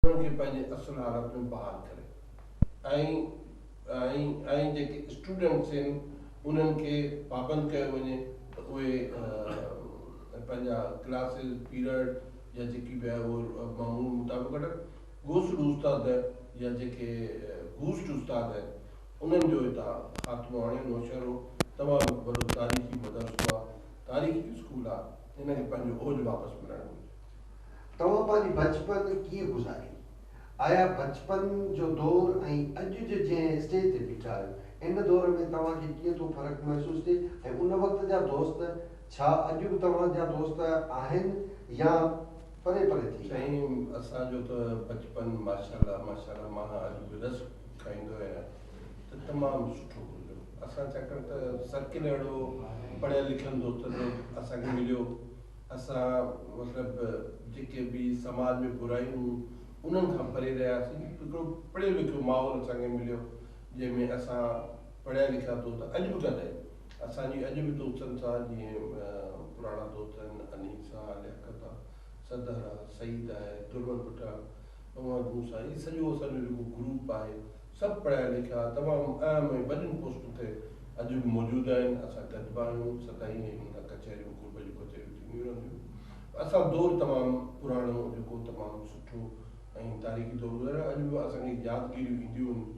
انهن کي پنهنجي اصل حالت ۾ بحال ڪري ۽ ۽ ۽ جيڪي اسٽوڊنٽس آهن انهن کي پابند ڪيو وڃي ته اهي پنهنجا ڪلاسز پيرڊ يا جيڪي به آهي اهو معمول مطابق وٺن گوسڙو استاد نه يا جيڪي گوسٽ استاد آهن انهن جو هتان خاتمو آڻي نوشهرو تمام هڪ وڏو تاريخي مدرسو آهي تاريخي اسڪول آهي هن کي پنهنجو اوج واپس ملڻ گهرجي. توهان پنهنجي بچپن ڪيئن گذاري؟ آيا بچپن جو دور ۽ اڄ جو جنهن اسٽيج تي بيٺا آهيو ان دور ۾ توهان کي ڪيئن ٿو فرق محسوس ٿئي ۽ ان وقت جا دوست ڇا اڄ به توهان جا دوست آهن يا پري پري ٿي ويا آهن؟ سائين اسان جو ته بچپن ماشاءالله ماشاءالله مان اڄ به رس کائيندو آهيان ته تمام سٺو گذريو اسان ڇاڪاڻ ته سرڪل اهڙو پڙهيل لکيل دوستن جو اسان کي مليو اسان مطلب جيڪي به سماج ۾ برايون هيون انهن کان پري رهياسين هڪڙو پڙهيو لکيو ماحول اسان کي مليو جنهن ۾ اسان پڙهيا لکيا دوست اڄ به گڏ آهيون اسان جي اڄ به دوستن سان جيئن پراڻا دوست آهن انيس آ لياقت آ صدر آ سعيد آهي درون ڀٽا اهي سڄو اسان جو جيڪو گروپ آهي سڀ پڙهيا لکيا، تمام اهم ۽ وڏين پوسٽن تي اڄ به موجود آهن. اسان گڏبا آهيون، سدائين هن هنڌ ڪچهريون، گروپ جون ڪچهريون ٿينديون رهنديون. اسان دور تمام پراڻو جيڪو تمام سٺو ۽ تاريخي دور گذاريو آهي. اڄ به اسان کي يادگيريون اينديون آهن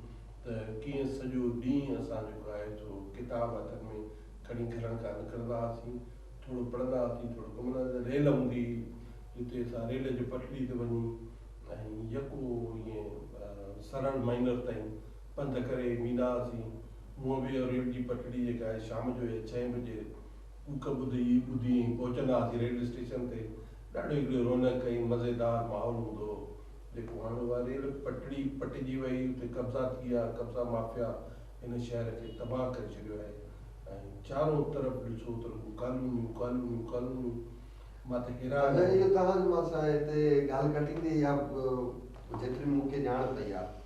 ته ڪيئن سڄو ڏينهن اسان جيڪو آهي سو ڪتاب هٿن ۾ کڻي گهرن کان نڪرندا هئاسين، ٿورو پڙهندا هئاسين، ٿورو ڪم ڪندا هئاسين. ريل هوندي هئي جتي اسان ريل جي پٽڙي تي وڃي. ۽ يڪو ائين سرل مئنر تائين پنڌ ڪري ويندا هئاسين. هونء به ريل جي پٽڙي جيڪا آهي شام جو يا ڇهين بجي ڪوڪ ٻڌي ئي ٻڌي ائين پهچندا هئاسين ريل اسٽيشن تي. ڏاڍو هڪڙي رونق ۽ مزيدار ماحول هوندو هو. جيڪو هاڻ اها ريل پٽڙي پٽجي وئي اتي قبضا ٿي ويا قبضا مافيا هن شهر کي تباهه ڪري ڇڏيو آهي ۽ چارو طرف ڏسو ته رڳو ڪالونيون ڪالونيون ڪالونيون. اڄ اهو تهانجو مان سان هتي ڳالهه ڪٽيندي اها جيتري مون کي ڄاڻ پئي آهي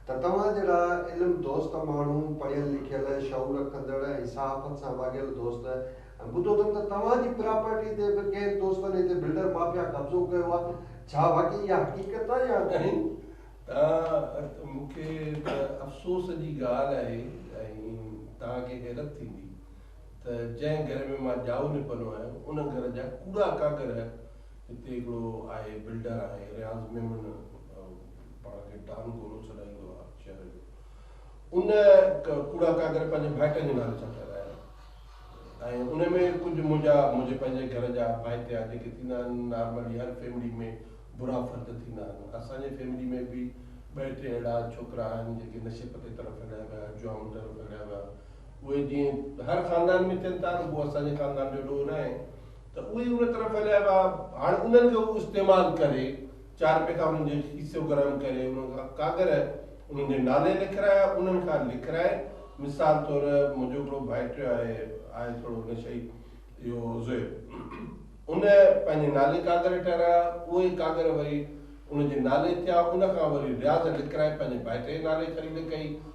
ته توهان جهڙا علم دوست ماڻهو، پڙهيل لکيل، شعور رکندڙ ۽ صحافت سان واڳيل دوست ۽ ٻڌو اٿم ته توهان جي پراپرٽي تي به ڪئين دوستن هتي بلڊر مافيا قبضو ڪيو آهي، ڇا واقعي اها حقيقت آهي يا ڪهين؟ تهان مون کي ته افسوس جي ڳالهه آهي ۽ تهان کي حيرت ٿيندي. ته جنهن گهر ۾ مان ڄائو نپنو آهيان، ان گهر جا ڪوڙا ڪاڳر هي. هتي هڪڙو آهي بلڊر آهي رياض ميمڻ، پاڻ کي ڊان گولو سڏائيندو آهي شهر جو. ان ڪوڙا ڪاڳر پنهنجي ڀائٽن جي نالي سان ٺهرايا آهن ۽ ان ۾ ڪجهه منهنجا، منهنجي پنهنجي گهر جا ڀائٽيا جيڪي ٿيندا آهن، نارملي هر فيملي ۾ برا فرد ٿيندا آهن. اسان جي فيملي ۾ به ٻه ٽي اهڙا ڇوڪرا آهن، جيڪي نشي پتي طرف هليا ويا، جوام طرف هليا ويا. اهي جيئن هر خاندان ۾ ٿين ٿا رڳو اسان جي خاندان جو ڏور آهن ته اهي ان طرح ڦهليا ويا هاڻ انهن کي هو استعمال ڪري چار پيتا انهن جو حصو گرم ڪري انهن کان ڪاڳر انهن جي نالي لکرايا انهن کان لکرائي مثال طور منهنجو هڪڙو ڀائٽيو آهي آهي ٿورو نشئي اهو زويب ان پنهنجي نالي ڪاڳر ٺهرايا اهي ڪاڳر وري ان جي نالي ٿيا ان کان وري رياض لکرائي پنهنجي ڀائٽي جي نالي خريد ڪئي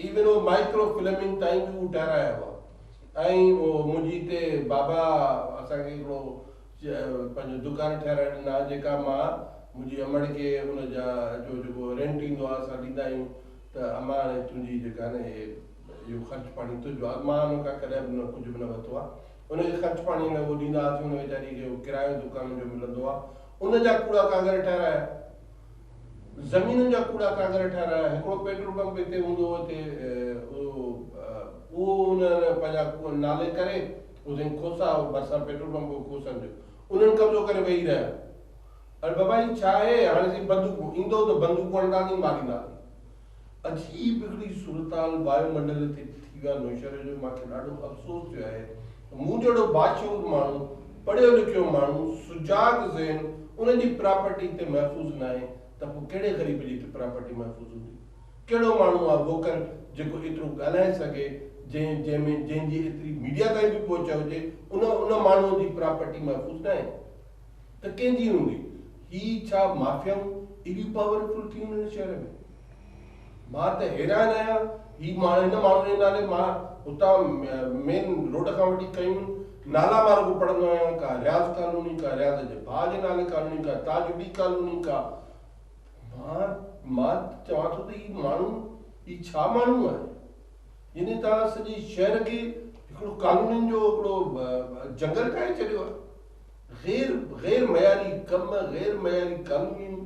هي ورو مائڪرو فلمنگ تائين به هو ٽهرايا هئا ۽ منهنجي هتي بابا اسان کي هڪڙو پنهنجو دڪان ٺهرائي ڏنا جيڪا مان منهنجي امڙ کي ان جا جو جيڪو رينٽ ايندو آهي اسان ڏيندا آهيون ته امان هاڻي تنهنجي جيڪا نه هي اهو خرچ پاڻي تنهنجو آهي مان ان کان ڪڏهن به ڪجهه به نه ورتو آهي ان کي خرچ پاڻي لاء اهو ڏيندا هئاسين ان ويچاري کي ڪرايو دڪان جو ملندو آهي ان جا ڪوڙا ڪاڳر ٺهرايا. زمينن جا ڪوڙا ڪاڳر ٺهرايا، هڪڙو پيٽرول پمپ هتي هوندو هو، هتي اهو انهن پنهنجا ڪوهه نالي ڪري اوسين کوسا هو، ڀرسان پيٽرول پمپ هو کوسن جو، انهن قبضو ڪري ويهي رهيا. اڙي بابا هي ڇا آهي، هاڻي سائين بندوقون، ايندؤ ته بندوقون هڻنداسين مارينداسين. عجيب هڪڙي صورتحال وايو منڊل تي ٿي ويا نوشهري جو مان کي ڏاڍو افسوس ٿيو آهي ته مون جهڙو باشعور ماڻهو پڙهيو لکيو ماڻهو سجاڳ ذهن ان جي پراپرٽي هتي محفوظ ناهي ته پوء ڪهڙي غريب جي هتي پراپرٽي محفوظ هوندي ڪهڙو ماڻهو آهي ووڪل جيڪو ايترو ڳالهائي سگهي جنهن جنهن ۾ جنهن جي ايتري ميڊيا تائين به پهچ هجي ان ان ماڻهو جي پراپرٽي محفوظ ناهي ته ڪنهن جي هوندي؟ هي ڇا مافيائون ايڏيون پاور فل ٿي ويون هن شهر ۾؟ مان ته حيران آهيان هي ماڻهو هن ماڻهو جي نالي مان هتان مين روڊ کان وٺي ڪيون نالا مان رڳو پڙهندو آهيان ڪا رياض ڪالوني ڪا رياض جي ڀاء جي نالي ڪالوني ڪا تاج علي ڪالوني ڪا مان مان ته چوان ٿو ته هي ماڻهو هي ڇا ماڻهو آهي يعني توهان سڄي شهر کي هڪڙو ڪالونين جو هڪڙو جنگل ٺاهي ڇڏيو آهي. غير غير معياري ڪم، غير معياري ڪالونيون،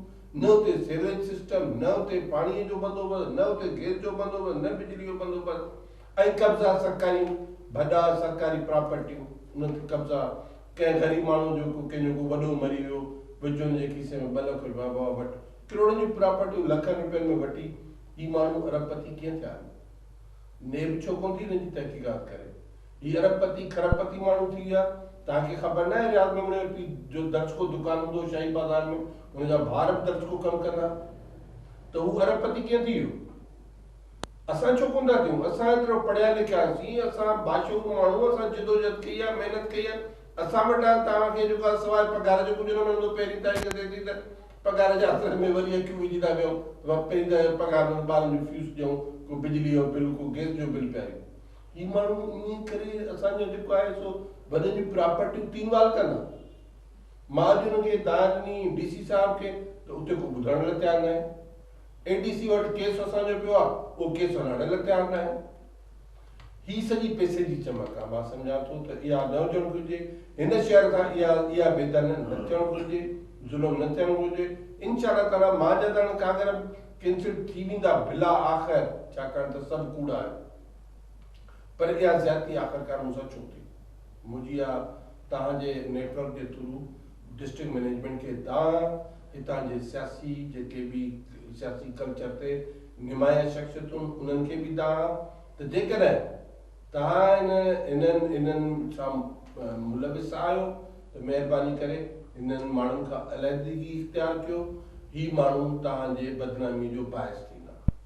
نه اتي سيوريج سسٽم، نه اتي پاڻي جو بندوبست، نه اتي گئس جو بندوبست، نه بجلي جو بندوبست ۽ قبضا سرڪاريون ڀڏا، سرڪاري پراپرٽيون، انهن تي قبضا، ڪنهن غريب ماڻهو جو ڪو ڪنهن جو ڪو وڏو مري ويو، وچولن جي کيسي ۾ ٻه لک رپيا بابا وٺ، ڪروڙن جون پراپرٽيون لکن رپين ۾ وٺي هي ماڻهو ارب پتي ڪيئن ٿيا آهن؟ نيب ڇو ڪونه ٿي هن جي تحقيقات ڪري؟ هي ارب پتي کرب پتي ماڻهو ٿي ويا. توهان کي خبر ناهي رياض ميمڻي جو پيء جو درزڪو دڪان هوندو هو شاهي بازار ۾ هن جا ڀاء به درزڪو ڪم ڪندا ها ته هو ارب پتي ڪيئن ٿي ويو؟ اسان ڇو ڪونه ٿا ٿيون؟ اسان ايترو پڙهيا لکيا سين اسان باشعور ماڻهو اسان جدوجهد ڪئي آهي محنت ڪئي آهي اسان وٽ آيو توهان کي جيڪو آهي سواء پگهار جو ڪجهه نه ملندو پهرين تاريخ ٿئي ٿي ته پگهار جي آسري ۾ وري اکيون وجهي ٿا ويهون ته پهرين ته پگهار ۾ ٻارن جون فيس ڏيون ڪو بجلي جو بل ڪو گئس جو بل پياريون هي ماڻهو انهيء ڪري اسان جو جيڪو آهي سو ڀڄن جون پراپرٽيون تين وال ڪن ها. مان اڄ انهن کي داد ڏني، ڊي سي صاحب کي، ته اتي ڪو ٻڌڻ لاء تيار ناهي. اي ڊي سي وٽ ڪيس اسان جو پيو آهي، اهو ڪيس هلائڻ لاء تيار ناهن. هي سڄي پئسي جي چمڪ آهي. مان سمجهان ٿو ته اها نه هجڻ گهرجي. هن شهر کان اها اها بيدانه نه ٿيڻ گهرجي، ظلم نه ٿيڻ گهرجي. انشاء الله تعاليٰ مان جا ته هاڻي ڪاڳر به ڪينسل ٿي ويندا بلا آخر، ڇاڪاڻ ته سڀ ڪوڙا آهن. پر اها زيادتي آخرڪار مون سان ڇو ٿي؟ منهنجي يا توهان جي نيٽ ورڪ جي ٿرو ڊسٽرڪٽ مئنيجمينٽ کي دانهن هتان جي سياسي جيڪي به سياسي ڪلچر تي نمايان شخصيتون انهن کي به دانهن ته جيڪڏهن توهان انهن انهن سان ملوث آهيو ته مهرباني ڪري انهن ماڻهن کان علحدگي اختيار ڪيو هي ماڻهو توهان جي بدنامي جو باعث ٿيندا.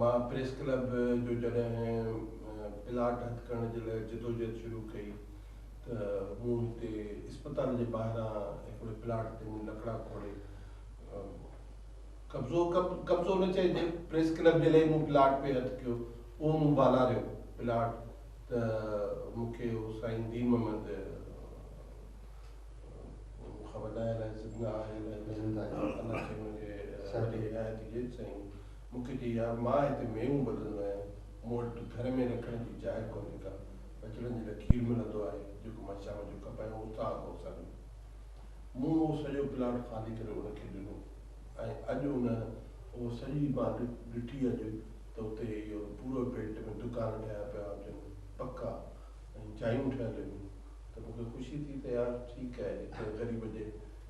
مان پريس ڪلب جو جڏهن پلاٽ هٿ ڪرڻ جي لاء جدوجهد شروع ڪئي ته مون هتي اسپتال جي ٻاهران هڪڙي پلاٽ تي مون لڪڙا کوڙي قبضو قبضو نه چئجي پريس ڪلب جي لاء مون پلاٽ پي هٿ ڪيو اهو مون بالاريو پلاٽ ته مون کي سائين دين محمد خبر نه آهي الائي زندگي آهي الائي نه زندگي آهي الله کي هن کي سهڻي هدايت ڏجي سائين مون کي چيو، يار مان هتي ميون ٻڌندو آهيان، مون وٽ ته ٿر ۾ رکڻ جي جاء ڪونهي ڪا، ٻچڙن جي لاء کير ملندو آهي، جيڪو مان شام جو کپايان اتان اهو اسان ڏيو. مون اهو سڄو پلاٽ خالي ڪري ان کي ڏنو ۽ اڄ ان اهو سڄي مان ڏٺي اڄ ته اتي اهو پورو بيلٽ ۾ دڪان ٺهيا پيا هجن پڪا ۽ جايون ٺهيل هيون ته مون کي خوشي ٿي ته يار ٺيڪ آهي هڪڙي غريب جي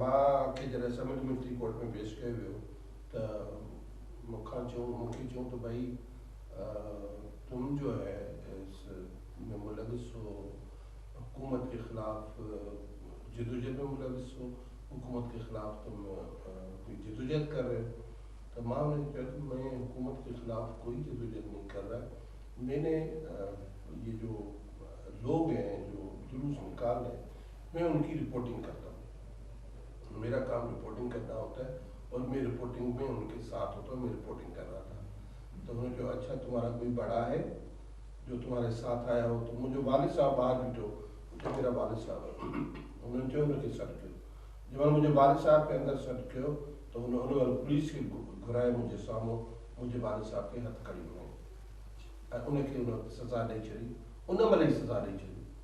ماء کي جڏهن سميٽ ملٽري ڪورٽ ۾ پيش ڪيو ويو ته مون کان چيون مون کي چيون ته ڀائي تم جو هي اس ۾ ملوث هو حڪومت ڪي خلاف جدوجهد ۾ ملوث هو حڪومت ڪي خلاف تم ڪوئي جدوجهد ڪر رهي هو ته ماء ان کي چيو ته مين حڪومت ڪي خلاف ڪوئي جدوجهد نهي ڪر رها مين نه يه جو لوگ هين جو جلوس نڪال رهي هين مين ان ڪي رپورٽنگ ڪرتا هون ميرا ڪام رپورٽنگ ڪرنا هوتا هي اور مين رپورٽنگ مين ان ڪي ساٿ هوتا هون مين رپورٽنگ ڪر رها ٿا ته هن چيو اڇا تمهارا ڪوئي بڙا هي جو تمهاري ساٿ آيا هو ته منهنجو والد صاحب ٻاهر بيٺو اتي ميرا والد صاحب هن چيو ان کي سڏ ڪيو جي مهل منهنجي والد صاحب کي اندر سڏ ڪيو ته هن ان مهل پوليس کي گهرائي منهنجي سامهون منهنجي والد صاحب کي هٿ ڪڙي هنئي ۽ ان کي ان وقت سزا ڏئي ڇڏي ان مهل ئي سزا ڏئي ڇڏي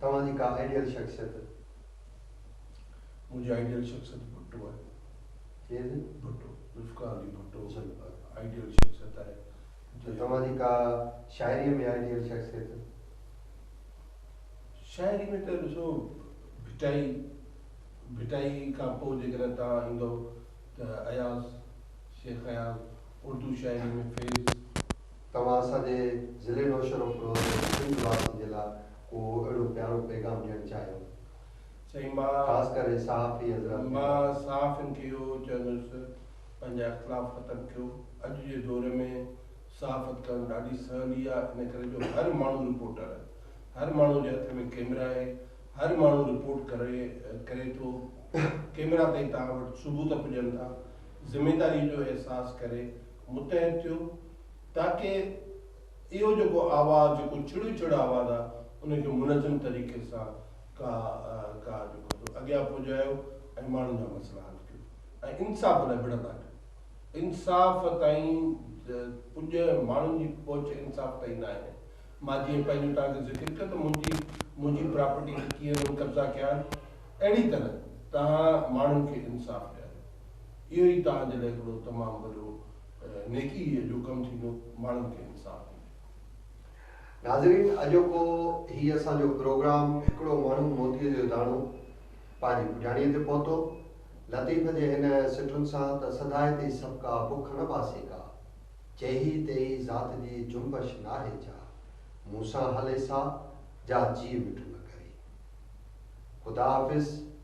توهان جي ڪا آئيڊيل شخصيت؟ منهنجي آئيڊيل شخصيت ڀٽو آهي. ڪير سائين؟ ڀٽو، ذوالفقار علي ڀٽو آئيڊيل شخصيت آهي. ته توهان جي ڪا شاعريء ۾ آئيڊيل شخصيت؟ شاعري ۾ ته ڏسو ڀٽائي، ڀٽائي کان پوء جيڪڏهن توهان ايندؤ ته اياز، شيخ اياز، اردو شاعري ۾ فيض، توهان اسان جي ضلعي نوشهروفروز ۽ سنڌ واسين جي لاء ڪو اهڙو پيارو پيغام ڏيڻ چاهيو سائين مان خاص ڪري صحافي حضرات کي مان صحافين کي اهو چوندس پنهنجا اختلاف ختم ڪيو اڄ جي دور ۾ صحافت ڪرڻ ڏاڍي سولي آهي ان ڪري جو هر ماڻهو رپورٽر هر ماڻهو جي هٿ ۾ ڪيمرا آهي هر ماڻهو رپورٽ ڪري ڪري ٿو ڪيمرا تائين توهان وٽ ثبوت پڄن ٿا ذميداري جو احساس ڪري متحد ٿيو تاڪه اهو جيڪو آواز جيڪو ڇڙو ڇڙ آواز آ ان کي منظم طريقي سان ڪا ڪا جيڪو سو اڳيان پهجايو ۽ ماڻهن جا مسئلا حل ڪيو ۽ انصاف لاء وڙهندا ڪيو انصاف تائين پڄ ماڻهن جي پهچ انصاف تائين نه آهي مان جيئن پنهنجو توهان کي ذڪر ڪيو ته منهنجي منهنجي پراپرٽي کي ڪيئن انهن قبضا ڪيا آهن اهڙي طرح توهان ماڻهن کي انصاف ڏياريو اهو ئي توهان جي لاء هڪڙو تمام وڏو نيڪيء جو ڪم ٿيندو، ماڻهن کي انصاف ڏيندي. ناظرين اڄوڪو هي اسان جو پروگرام هڪڙو ماڻهو موتيء جو داڻو پنهنجي پڄاڻيء تي پهتو. لطيف جي هن سٽن سان ته سدائي تئي سڀڪا بک نه باسي ڪا، چيهي تيهي ذات جي جنبش ناهي جا، مون سان هلي سا، جا جيء مٺ نه ڪري. خدا حافظ.